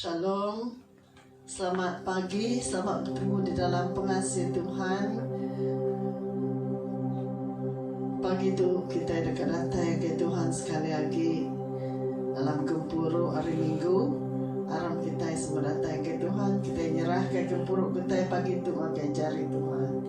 Shalom. Selamat pagi. Selamat bertemu di dalam pengasih Tuhan. Pagi tu kitai deka datai ke Tuhan sekali agi dalam gempuru hari Minggu. Aram kitai semua datai ke Tuhan. Kitai nyerahka gempuru kitai pagi tu ngagai jari Tuhan.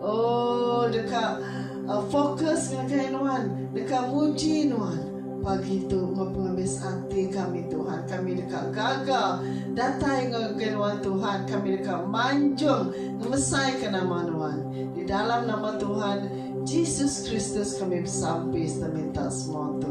Oh deka fokus ngagai nuan deka muji nuan pagi tu enggau pengabis ati kami Tuhan kami deka gaga datai ngagai nuan Tuhan kami deka manjung ngemesaika nama nuan di dalam nama Tuhan Jesus Kristus kami besampi serta minta semua tu.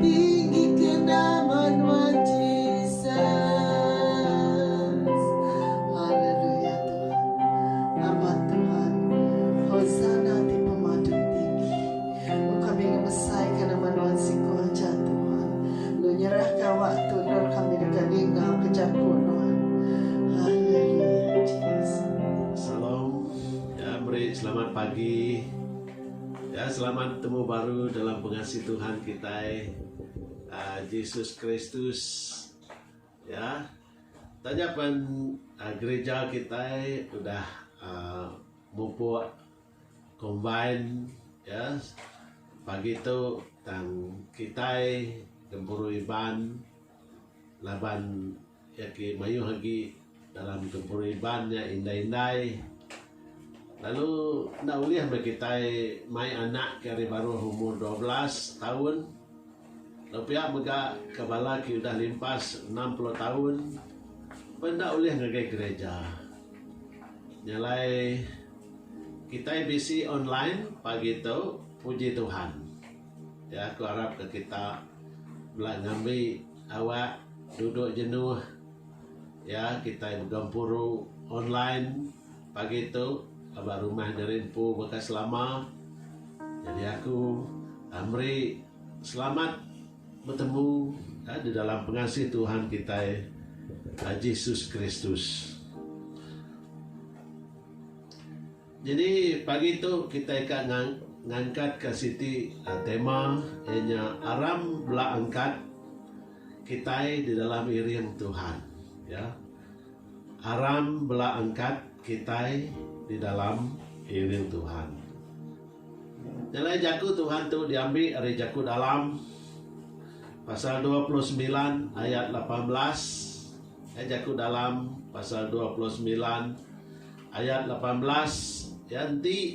Tinggika nama Nuan Jesus. Haleluya Tuhan. Nama Tuhan. Hosana ti pemadu tinggi. Oh kami ngebesaika nama Nuan siku aja Tuhan. Lu nyerahka awak tu endur kami deka ningauka jaku Nuan. Haleluya Jesus. Shalom. Ya meri selamat pagi. Ya selamat betemu baru dalam pengasih Tuhan kitai Jesus Kristus ya taja pen gereja kitai udah mupuk combine ya pagi tu tang kitai gempuru Iban laban Iya ke mayuh agi dalam gempuru Iban nya indai-indai lalu enda ulih meh kitai mai anak ke ari baruh umur dua belas taun lalu pia mega ke bala ke udah limpas enam puluh taun pun enda ulih ngagai gereja. Nya alai kitai bisi online pagi tu puji Tuhan. Iya aku arap ka kita bela ngambi Awak duduk jenuh ya kitai begempuru online pagi tu ba rumah nyeri empu baka selama jadi aku meri selamat betemu di dalam pengasih Tuhan kitai Jesus Kristus. Nyadi pagi tu kitai ka ngangkat ka siti tema iya nya aram bela angkat kitai di dalam iring Tuhan ya aram bela angkat kitai di dalam iring Tuhan. Nyelai jaku Tuhan tu diambi ari jaku dalam pasal dua puluh semilan ayat lapan belas. Ai jaku dalam pasal dua puluh semilan. Ayat lapan belas, Iya enti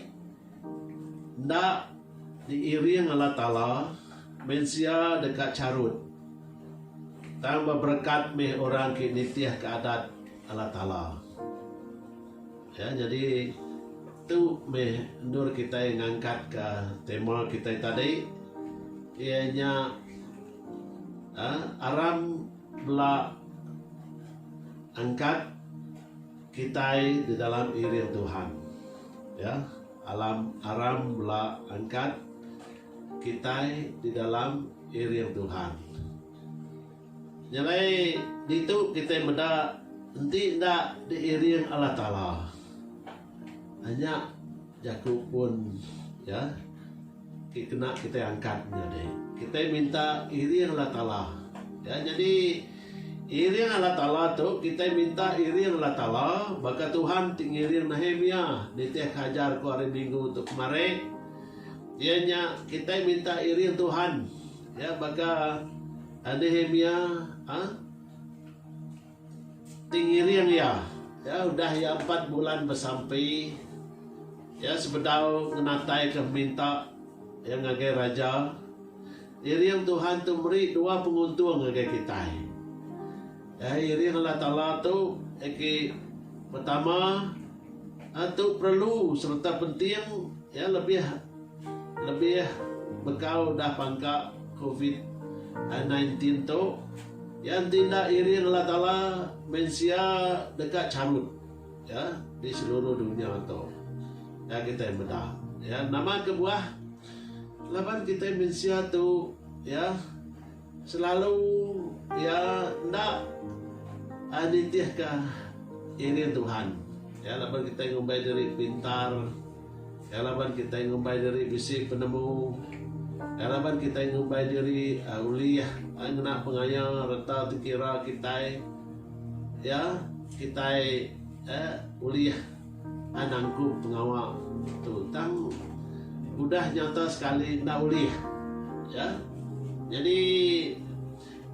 enda diiring Allah Taala, mensia deka charut, tang beberekat meh orang ke nitihka Adat Allah Taala. Ya, nyadi tu meh endur kitai ngangkatka tema kitai tadi, iya nya aram bela angkat. Kitai di dalam iring Tuhan. Ya, alam aram bela angkat. Kitai di dalam iring Tuhan. Nya alai ditu kitai meda enti enda di iring Allah Taala. Nya jaku pun ya. Ti kena kitai angkat nyadi. Kitai minta iring Allah Taala. Ya nyadi iring Allah Taala tu kitai minta iring Allah Taala baka Tuhan ti ngiring Nehemia nitihka ajar ku hari minggu tu kemari iya nya kitai minta iring Tuhan ya baka Nehemia ha Ti ngiring iya, iya udah iya empat bulan besampi, iya sebedau ngenataika peminta iya ngagai Raja. Iring Tuhan tu meri dua penguntung ngagai kitai. Iya iring Allah Taala tu agi pertama, iya tu perlu sereta penting, iya lebih. Lebih bekau udah pangka covid nine teen tu, iya enti enda iring Allah Taala mensia deka charut iya di seluruh dunya tu. Nya kitai meda iya nama kebuah laban kitai mensia tu iya. Selalu iya enda nitihka iring Tuhan. Iya laban kitai ngumbai diri pintar. Iya laban kitai ngumbai diri bisi penemu. Iya laban kitai ngumbai diri ulih ngena pengaya reta dikira kitai. Iya, kitai ulih. Anang ku pengawa tu tang udah nyata sekali enda ulih ya jadi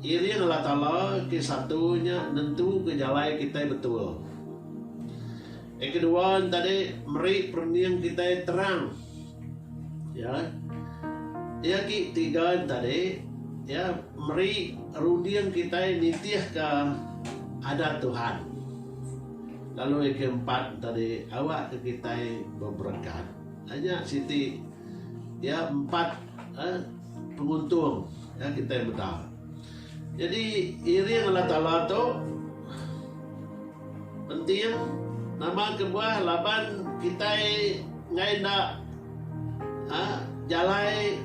iring Allah Taala ke satu nya nentu ke jalai kitai betul yang kedua tadi meri perening kitai terang ya ya ki tiga tadi ya meri runding kitai nitih ka adat Tuhan. Lalu yang ke empat tadi awak ke kitai beberekat anya siti ya empat eh, penguntung ya kitai meda. Jadi iring Allah Taala tu penting nama kebuah laban kitai ngai enda ha, jalai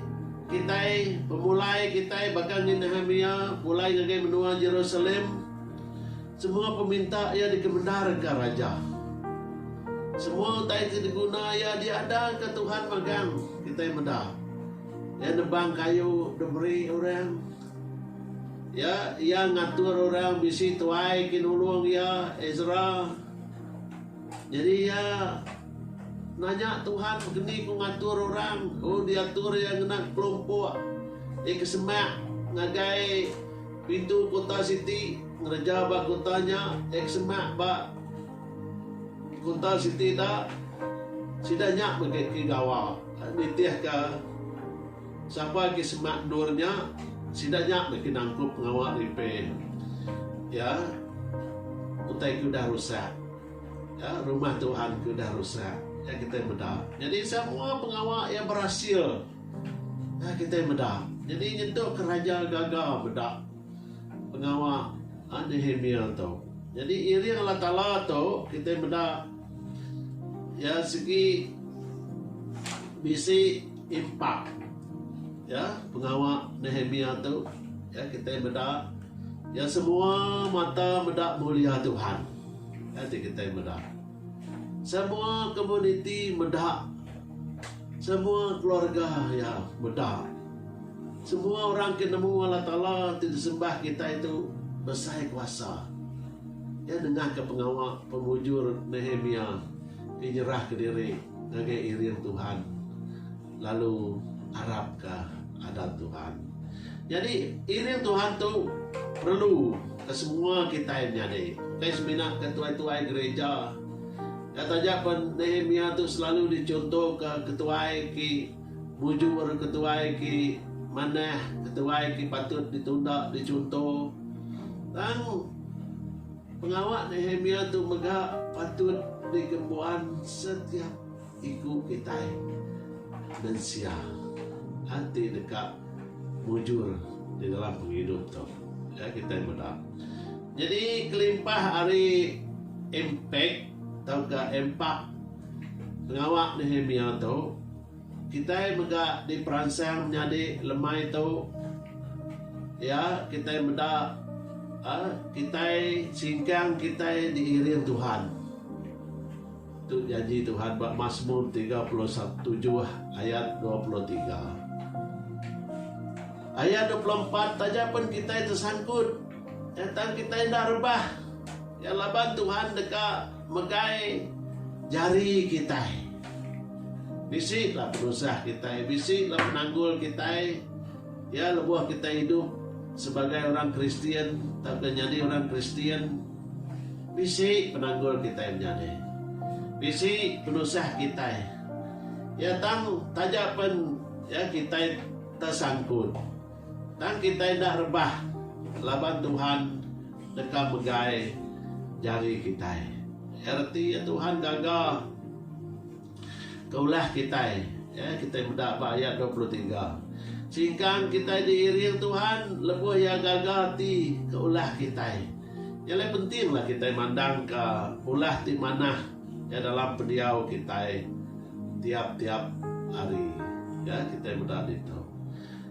kitai pemulai kitai baka ngin Nehemia pulai ngagai menua Jerusalem Semua peminta iya dikemendarka Raja. Semua utai ti diguna iya diadaka Tuhan magang kitai meda. Iya nebang kayu dep meri orang. Ya, iya ngatur orang bisi tuai ke nulung iya, Ezra. Nyadi iya nanya Tuhan keni ku ngatur orang. Oh, diatur iya ngena kelompok iya ke semak ngagai. Pintu kuta siti ngereja ba kuta nya ek semak ba kuta siti da sida nya mega ke gawa nitih ka sapa ke semak endur nya sida nya mega nangkup pengawa repair ya utai ke udah rusak ya rumah tuhan ke udah rusak ya kita meda jadi semua pengawa ya berasil. Nah kitai meda. Nyadi nyentuk ke raja gaga meda pengawa Nehemia tu. Nyadi iring Allah Taala tu kitai meda iya sigi bisi impak ya pengawa Nehemia tu ya kitai meda iya semua mata meda mulia Tuhan. Enti kitai meda semua komuniti meda Semua keluarga iya meda. Semua orang ke nemu Allah Taala ti disembah kitai tu besai kuasa. Iya nengahka pengawa pemujur Nehemia ke nyerahka diri ngagai iring Tuhan lalu arapka adat Tuhan. Nyadi, iring Tuhan tu perlu ke semua kitai menyadi. Ukai semina ke tuai-tuai gereja. Nya taja pen Nehemia tu selalu dichuntoka ketuai ke mujur, ketuai ke manah, ketuai ke patut ditunda dichunto. Tang pengawa Nehemia tu mega patut digembuan setiap iku kitai mensia ati deka. Mujur tenggelam pengidup tu nya kitai meda. Nyadi kelimpah ari impak tauka impak pengawa Nehemia tu kitai mega diperansang menyadi lemai tu iya kitai meda kitai singkang kitai diiring Tuhan. Tu janji Tuhan ba Masmur tiga puluh tujuh ayat dua puluh tiga. Ayat dua puluh empat taja pun kitai tersangkut eh, tang kitai enda rebah. Ya laban Tuhan deka megai jari kitai. Bisi lah penusah kitai, bisi lah penanggul kitai. Ya lebuh kitai hidup sebagai orang Kristian tauka nyadi orang Kristian, Bisi penanggul kitai menyadi. Bisi penusah kitai. Ya tang taja pen ya kitai tesangkut. Tang kitai enda rebah laban Tuhan deka megai jari kitai. Reti ya Tuhan gaga. Ke ulah kitai, ya, kitai meda ba ayat dua puluh tiga. Singkang kitai diiring Tuhan lebuh Iya gaga ati ke ulah kitai. Nya alai pentinglah kitai mandangka ulah ti manah, ya, dalam pendiau kitai tiap-tiap hari. Ya, kitai meda ditu.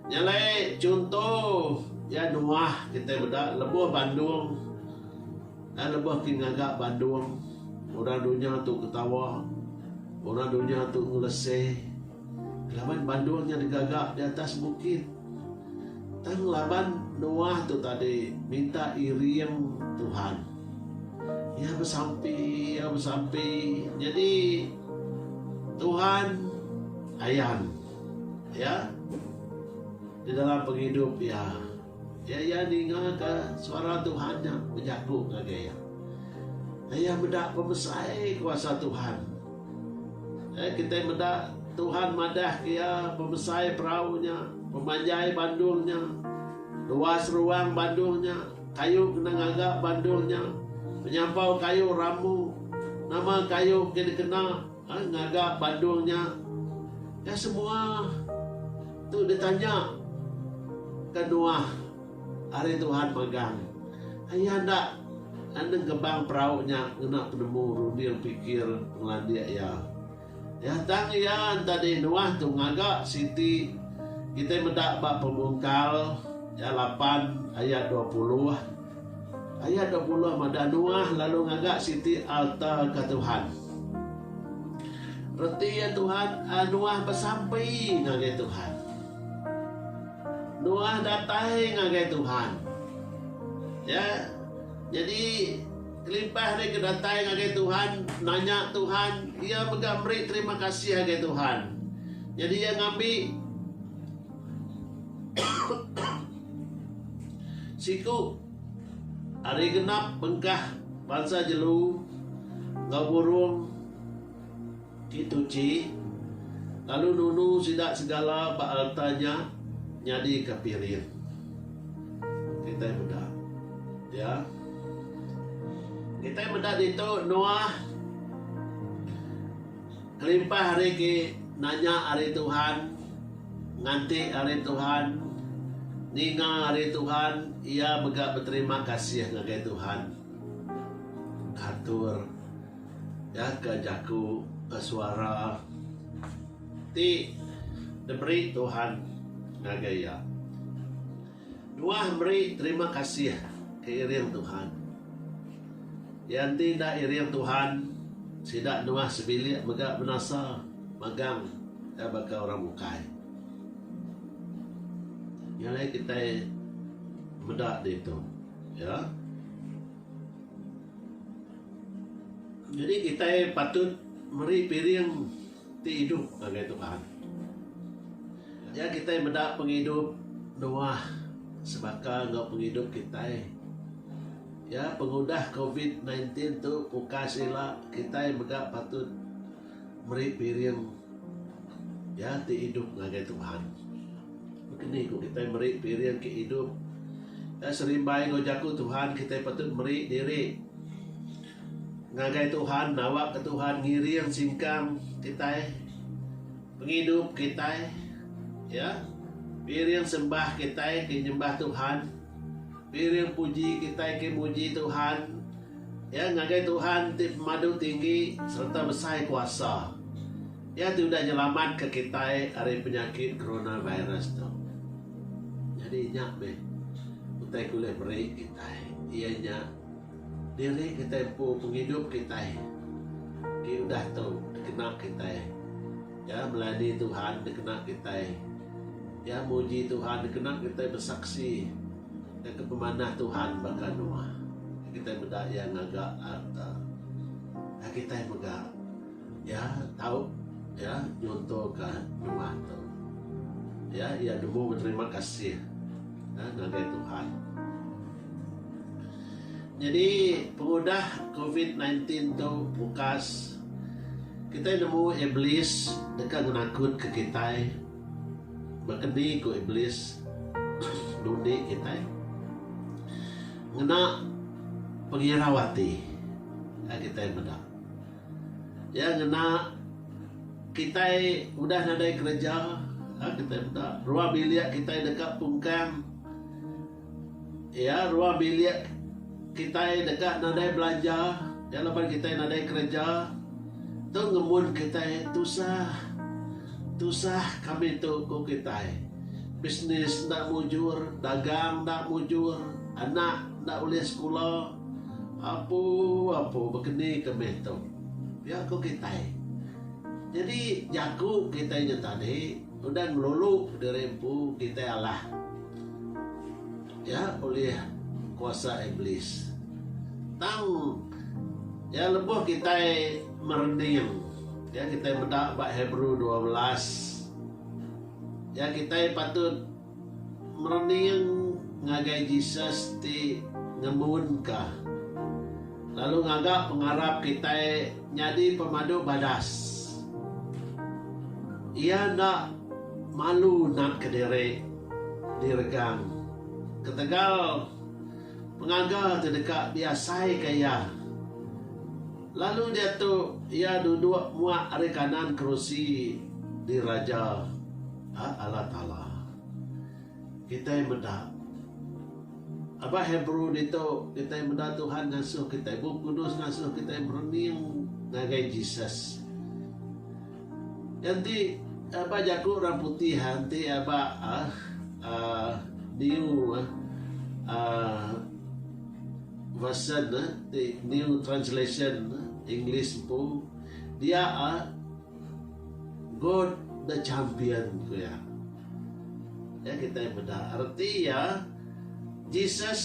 Nya alai chunto, ya, Noah kitai meda lebuh bandung. Ai lebih ti ngaga Bandung, orang dunya tu ketawa, orang dunya tu ngelese laban Bandung nya digaga di atas bukit. Tang laban Noah tu tadi minta iring Tuhan, iya besampi, iya besampi. Nyadi Tuhan ayan iya di dalam pengidup iya. Iya iya ninga ka suara Tuhan nya bejaku ngagai iya. Iya meda pemesai kuasa Tuhan. Eh, kitai meda Tuhan madah ke iya pemesai perau nya, pemanjai bandung nya, luas ruang bandung nya, kayu kena ngaga bandung nya, penyampau kayu rambu, nama kayu ke dikena, Ai ngaga bandung nya ka semua tu ditanya ka Noah ari Tuhan magang. Aye enda nengkebang perau nya ngena penemu runding pikir pengelandik iya. Iya tang iya entadi Noah tu ngaga siti kitai meda ba Pemungkal iya lapan ayat dua puluh. Ayat dua puluh madah Noah lalu ngaga siti alta ke Tuhan. Reti iya Tuhan, Noah besampi ngagai Tuhan. Noah datai ngagai Tuhan. Ya. Jadi kelimpah ari ke datai ngagai Tuhan, nanya Tuhan, iya mega meri terima kasih ngagai Tuhan. Jadi iya ngambi Siku ari genap bengkah bansa jelu enggau burung ti tuchi lalu nunu sida segala ba alta nya nyadika piring. Kitai meda iya. Kitai meda ditu Noah. Kelimpah ari ke nanya ari Tuhan, nganti ari Tuhan, ninga ari Tuhan, iya mega beterima kasih ngagai Tuhan. Atur iya ke jaku ke suara ti diberi Tuhan ngagai iya. Nuah meri terima kasih ke iring Tuhan. Iya enti enda iring Tuhan, sida Nuah sebilik mega binasa magang iya baka orang bukai. Nya alai kitai meda ditu. Ya. Nyadi kitai patut meri piring. Ti idup ngagai Tuhan. Nya kitai meda pengidup Noah sebaka enggau pengidup kitai. Ya, pengudah covid nineteen tu pukas ila kitai mega patut meri piring ya ti idup ngagai Tuhan. Bekeni ku kitai meri piring ke idup. Ya, serimbai enggau jaku Tuhan kitai patut meri diri. Ngagai Tuhan, nawakka Tuhan ngiring singkang kitai, pengidup kitai, ya. Piring sembah kitai ke nyembah Tuhan, piring puji kitai ke muji Tuhan, ya ngagai Tuhan ti pemadu tinggi sereta besai kuasa. Iya ti udah nyelamatka kitai ari penyakit coronavirus tu. Nyadi nya meh utai ke ulih meri kitai iya nya. Diri kitai empu pengidup kitai ti udah tu dikena kitai. Iya melayani Tuhan dikena kitai. Iya muji Tuhan dikena kitai besaksi ngaga pemanah Tuhan baka Noah. Kitai meda iya ngaga arka. Kitai mega. Iya tau iya nyuntuka nyuah tu. Iya iya nemu beterima kasih ngagai Tuhan. Nyadi pengudah covid nine tin tu bukas kitai nemu iblis deka ngenakutka kitai. Baka ni ku iblis nundi kitai? Ngena pengirau ati kitai meda. Iya ngena kitai udah nadai kereja lalu kitai meda ruang bilik kitai deka pungkang. Iya ruang bilik kitai deka nadai belanja iya laban kitai nadai kereja. Tu ngemun kitai tusah. Tusah kami tu ku kitai. Bisnes enda mujur, dagang enda mujur, anak enda ulih sekula. Apu, apu, bekeni ke meh tu. Pia ku kitai. Nyadi jaku kitai nya tadi udah ngelulu diri empu kitai alah iya ulih kuasa iblis. Tang iya lebuh kitai merening iya kitai meda ba Hebrew dua belas iya kitai patut Merening ngagai Jesus ti ngemunka, lalu ngaga pengarap kitai nyadi pemadu badas. Iya enda malu natka diri diregang ketegal pengaga ti deka diasaika iya, lalu diatu iya duduk muak ari kanan kerusi diraja. A Allah Taala. Kitai meda Abah Hebrew ditu, kitai meda Tuhan ngasuh kitai. Bup Kudus ngasuh kitai merening ngagai Jesus. Nya enti aba jaku orang putih enti aba aaa new aaa version ti new translation English empu dia a God the champion ku iya. Nya kitai meda reti iya Jesus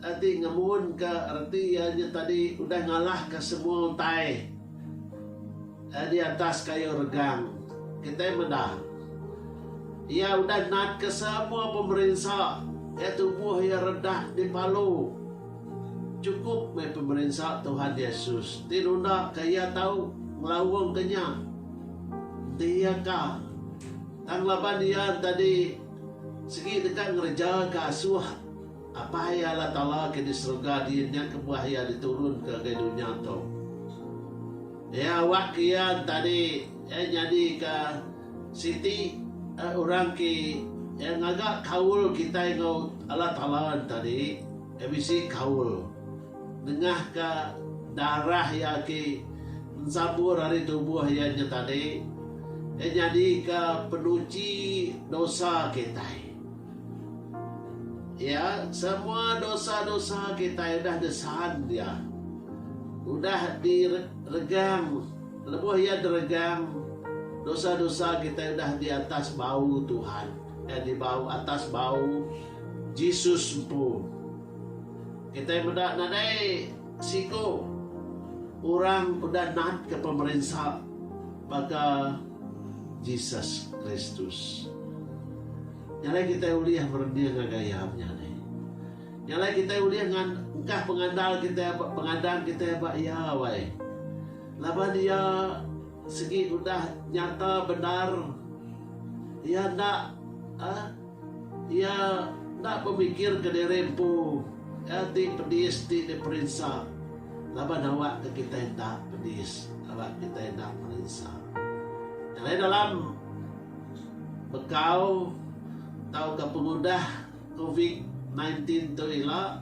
ati ngemun ka reti iya nya tadi udah ngalah ka semua utai eh di atas kayu regang. Kitai meda iya udah nat ka semua pemerinsa iya tubuh iya redah dipalu. Chukup meh pemerinsa Tuhan Yesus ti nunda ke Iya tau ngelaung ke nya. Enti iya ka, tang laban iya entadi sigi deka ngereja ke asuh Apai iya Allah Taala ke di serega din nya kebuah iya di turun ke ga dunya tu. Iya awak ke iya entadi iya nyadi ka Siti orang ke ngaga kaul kitai enggau Allah Taala enta diri iya bisi kaul nengahka darah iya ke ensabur ari tubuh iya nya tadi iya nyadika penuchi dosa kitai. Iya semua dosa-dosa kitai udah disan iya. Udah diregang. Lebuh iya deregang, dosa-dosa kitai udah di atas bau Tuhan, eh di bau atas bau Jesus empu. Kitai meda nadai siku orang udah natka pemerinsa baka Jesus Kristus. Nya alai kitai ulih merening ngagai iya nya ni. Nya alai kitai ulih ngkah pengandal kitai ba pengadang kitai ba iya wai. Laban iya segi udah nyata bendar, iya enda iya enda bemikirka diri empu ti pedis ti diperinsa laban awakka kitai enda pedis, awakka kitai enda perinsa. Dalam bekau tauka pengudah. Covid nine teen tu ila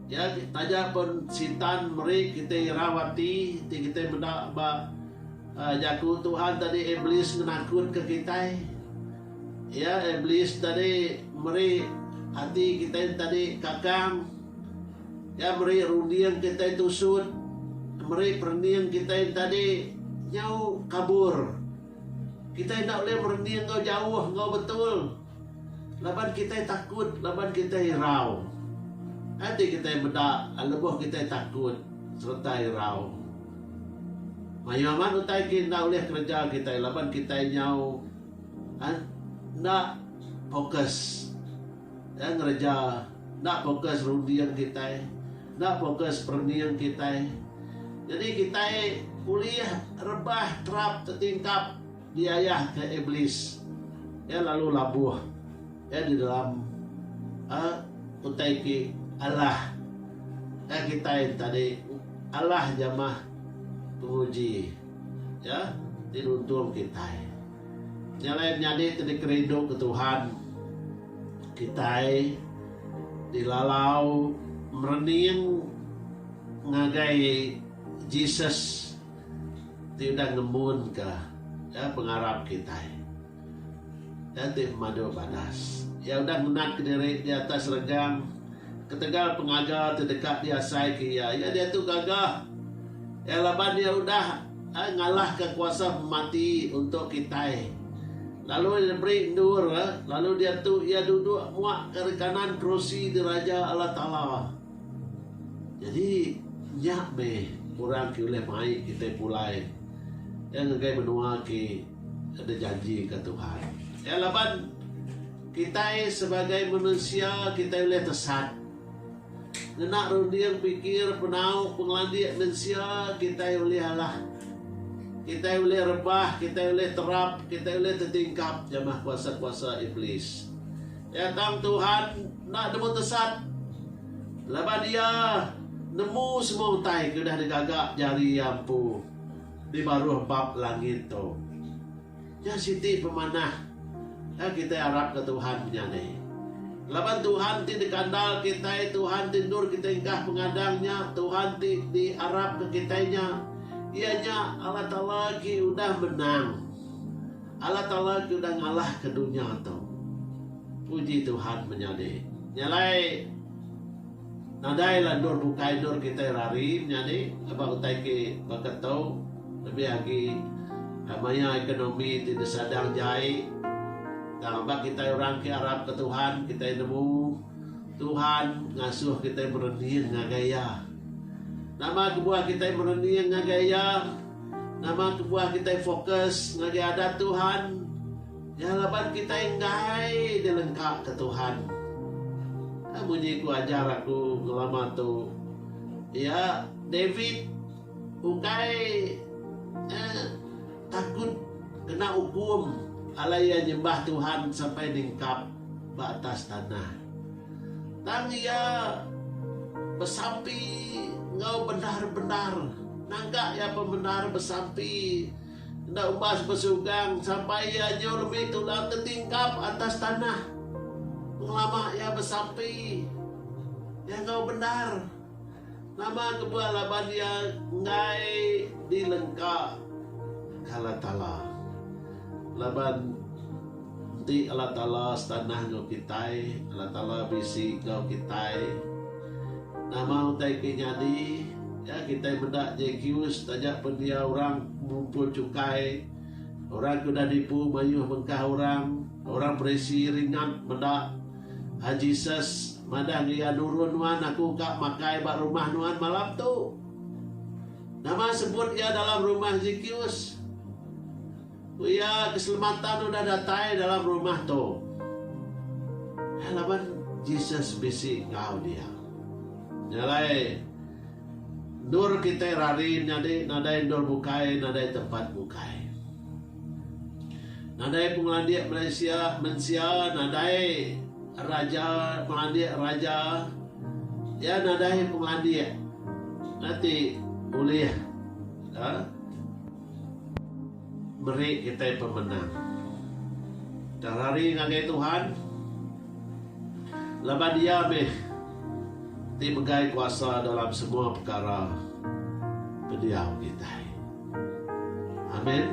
ya taja pun sitan meri kitai irau ati ti kitai meda ba jaku Tuhan tadi iblis ngenakutka kitai ya iblis tadi meri ati kitai tadi kakang ya meri runding kitai tusut meri perening kitai tadi nyau kabur kitai enda ulih merening enggau jauh enggau betul. Laban kitai takut, laban kitai irau. Enti kitai meda lebuh kitai takut sereta irau, mayuh amat utai ke enda ulih kereja kitai laban kitai nyau enda pokus ngereja, enda pokus runding kitai, enda pokus perening kitai. Jadi kitai ulih rebah terap tetingkap. Diayahka Iblis, iya lalu labuh iya di dalam utai ke alah ka kitai enti tadi alah jamah penguji iya ti nuntung kitai nyelai menyadi ti dikerindu ke Tuhan. Kitai dilalau merening ngagai Jesus. Ti udah ngempunka iya pengarap kitai. Iya ti pemadu badas. Iya udah ngenatka diri di atas regang ketegal pengaga ti deka diasaika iya. Iya diatu gaga iya laban iya udah ngalahka kuasa pemati untuk kitai, lalu iya diberi endur, lalu diatu iya duduk muak ari kanan kerusi diraja Allah Taala. Jadi nya meh orang ke ulih mai kitai pulai iya ngagai menua ti dijanjika Tuhan. Iya laban kitai sebagai manusia kitai ulih tesan ngena runding pikir penau pengelandik mensia kitai ulih alah kitai ulih rebah kitai ulih terap kitai ulih tetingkap jamah kuasa-kuasa iblis. Ya tang Tuhan enda nemu tesat laban Iya nemu semua utai ke udah digaga jari Iya empu di baruh bab langit tu. Nya siti pemanah ke kitai arapka Tuhan menyadi. Laban Tuhan ti dikandal kitai, Tuhan ti endur kitai enggah pengadang nya, Tuhan ti diarapka kitai nya, iya nya Allah Taala ke udah menang. Allah Taala ke udah ngalahka dunya tu. Puji Tuhan menyadi. Nya alai nadailah endur bukai endur kitai rari menyadi ba utai ke baka tu lebih agi eh, maya ekonomi ti disadang jai tang ba kitai orang ke arap ke Tuhan kitai nemu Tuhan ngasuh kitai merening ngagai Iya. Nama kebuah kitai merening ngagai Iya? Nama kebuah kitai fokus ngagai Adat Tuhan? Iya laban kitai enggai dilengkaka Tuhan. Ka munyi ku ajar aku ngelama tu. Iya, David, ukai eh, takut kena ukum alai iya nyembah Tuhan sampai ningkap ba atas tanah. Tang iya besampi enggau bendar-bendar. Naga iya bemendar besampi enda umbas besugang sampai iya nyu lebih tular tetingkap atas tanah. Pengelama iya besampi iya enggau bendar. Nama kebah laban iya enggai dilengka Allah Taala. Laban enti Allah Taala setanah enggau kitai, Allah Taala bisi enggau kitai. Nama utai ti nyadi, iya kitai meda JQ setaja pen iya orang ngumpul chukai, orang ke udah nipu mayuh bengkah orang, orang perisi ringat meda. An Jesus madah enggau iya, Nurun nuan aku ka makai ba rumah nuan malam tu. Nama sebut iya dalam rumah Zekeus? Ku iya, Keselamatan udah datai dalam rumah tu. Laban Jesus bisi enggau dia. Nya alai, endur kitai rari menyadi nadai endur bukai, nadai tempat bukai. Nadai pengelandik Malaysia mensia nadai raja pengelandik raja iya nadai pengelandik nya ti bulih aaa meri kitai pemenang. Tang hari ngagai Tuhan laban iya meh ti megai kuasa dalam semua pekara pendiau kitai. Amen.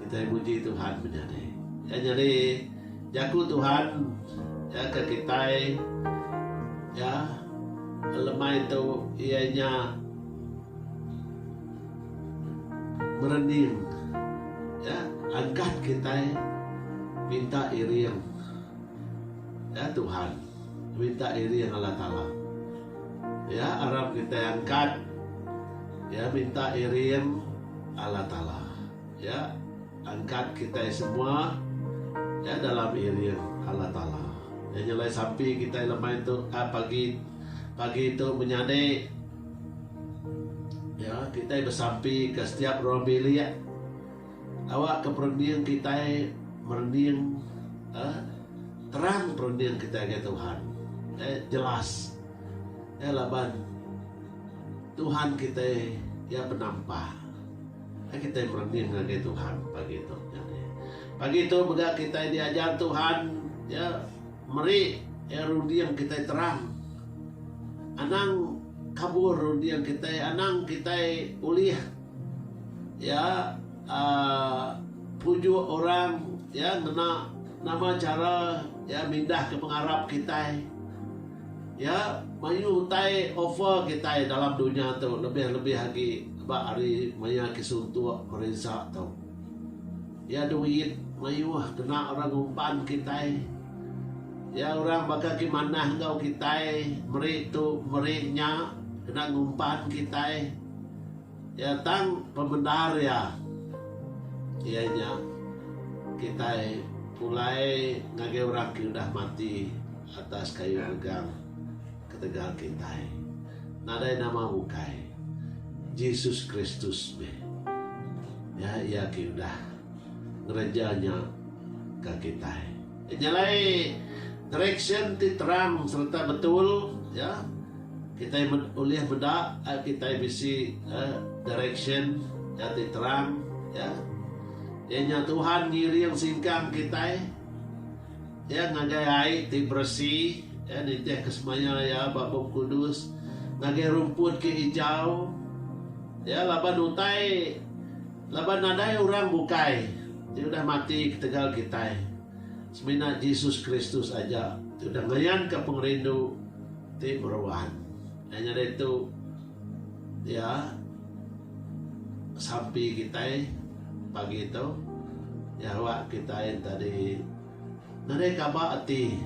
Kitai muji Tuhan menyadi. Iya nyadi jaku Tuhan iya ke kitai iya lemai tu iya nya merening iya angkat kitai minta iring iya Tuhan. Minta diri enggau Allah Taala. Ya aram kitai angkat ya minta iring Allah Taala ya angkat kitai semua ya dalam iring Allah Taala. Ya nyelai sampi kitai lemai tu a pagi pagi tu menyadi ya kitai besampi ke setiap ruang bilik. Awakka perening kitai merening terang perening kitai ngagai Tuhan jelas laban Tuhan kitai iya penampa kitai merening ngagai Tuhan pagi tu. Pagi tu mega kitai diajar Tuhan iya meri runding kitai terang anang kabur runding kitai anang kitai ulih. Iya pujuk orang iya ngena nama chara iya mindahka pengarap kitai. Iya mayuh utai offer kitai dalam dunya tu lebih-lebih agi ba hari maya ke suntuk perinsa tu. Iya duit mayuh kena orang ngumpan kitai. Iya orang baka ke manah enggau kitai meri tu meri nya kena ngumpan kitai. Iya tang pemendar iya iya nya kitai pulai ngagai orang ke udah mati atas kayu regang ketegal kitai. Nadai nama ukai Jesus Kristus meh iya iya ke udah ngereja nya ke kitai. Nya alai direksyen ti terang sereta betul iya. Kitai ulih meda ai kitai bisi direction nya ti terang iya nya Tuhan ngiring singkang kitai iya ngagai ai ti beresi iya nitih ke semaya iya ba bup kudus ngagai rumput ke ijau iya laban utai laban nadai orang bukai ti udah mati ketegal kitai. Semina Jesus Kristus aja ti udah ngayanka pengerindu ti meruan. Nya nyadi tu Iya sampi kitai pagi tu nyawa kitai enta di nadai kaba ati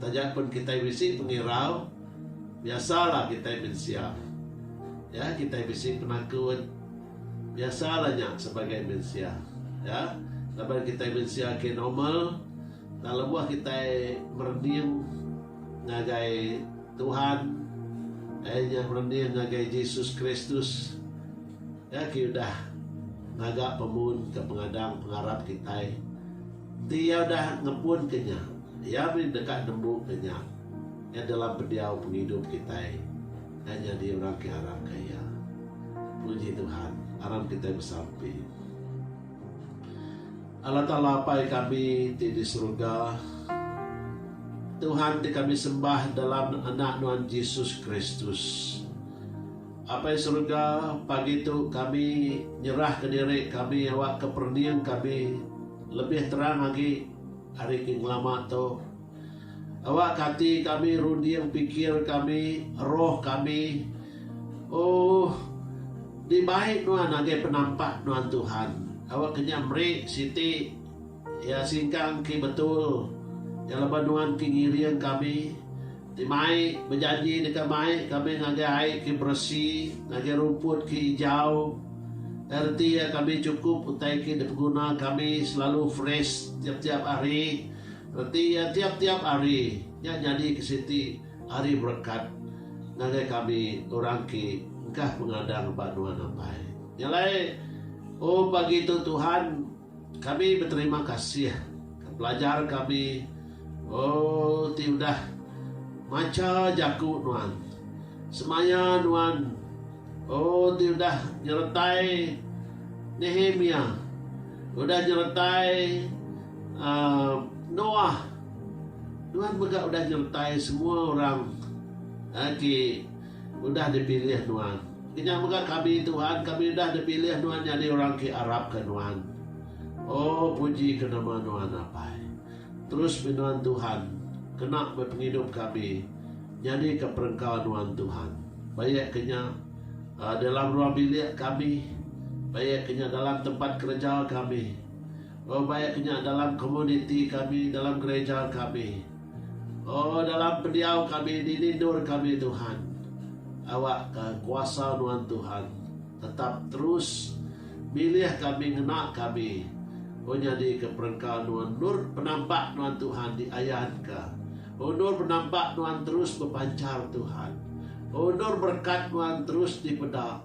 taja pun kitai bisi pengirau biasalah kitai mensia iya kitai bisi penakut. Biasa lah nya sebagai mensia. Ya, laban kitai mensia ke normal tang lebuh kitai merening ngagai Tuhan ai nya merening ngagai Jesus Kristus ya ke udah ngaga pemun ke pengadang pengarap kitai. Enti iya udah ngebun ke nya, iya mih deka nembu ke nya. Iya dalam pendiau pengidup kitai. Enda nyadi orang ke aram ka iya. Puji Tuhan, aram kitai besampi. Allah Taala Apai kami ti di seruga, Tuhan ti kami sembah dalam Anak Nuan Jesus Kristus. Apai seruga, pagi tu kami nyerahka diri kami awakka perening kami lebih terang agi ari ke ngelama tu. Awak kati kami runding pikir kami, roh kami, Oh, di bai nuan ngagai penampak nuan Tuhan. Awak ke nya meri siti iya singkang ke betul iya laban nuan ke ngiring kami ti mai bejanji deka mai kami ngagai ai ke beresi, ngagai rumput ke ijau. Ai reti iya kami chukup utai ke dipeguna kami selalu fresh tiap-tiap hari. Reti iya tiap-tiap hari nya nyadi ke siti ari berekat ngagai kami orang ke engkah pengadang ba nuan ampai. Nya alai, O pagi tu Tuhan, kami beterima kasih ke pelajar kami, O, ti udah macha jaku nuan. Semaya nuan, O, ti udah nyeretai Nehemia, udah nyeretai. Aaa Noah, nuan mega udah nyertai semua orang ati udah dipilih nuan. Kenyah mega kami, Tuhan, kami udah dipilih nuan nyadi orang ke arapka nuan. Oh, puji ke nama nuan apai. Terus meh nuan Tuhan, kena meh pengidup kami nyadika perengka nuan Tuhan. Baik ke nya dalam ruang bilik kami, baik ke nya dalam tempat kereja kami. Oh baik ke nya dalam komuniti kami, dalam gereja kami. Oh dalam pendiau kami dini endur kami Tuhan. Awak ka kuasa nuan Tuhan tetap terus milih kami ngena kami oh nyadi ke perengka nuan endur penampak nuan Tuhan di ayan ka. Oh endur penampak nuan terus bepancar Tuhan. Oh endur berkat nuan terus di peda.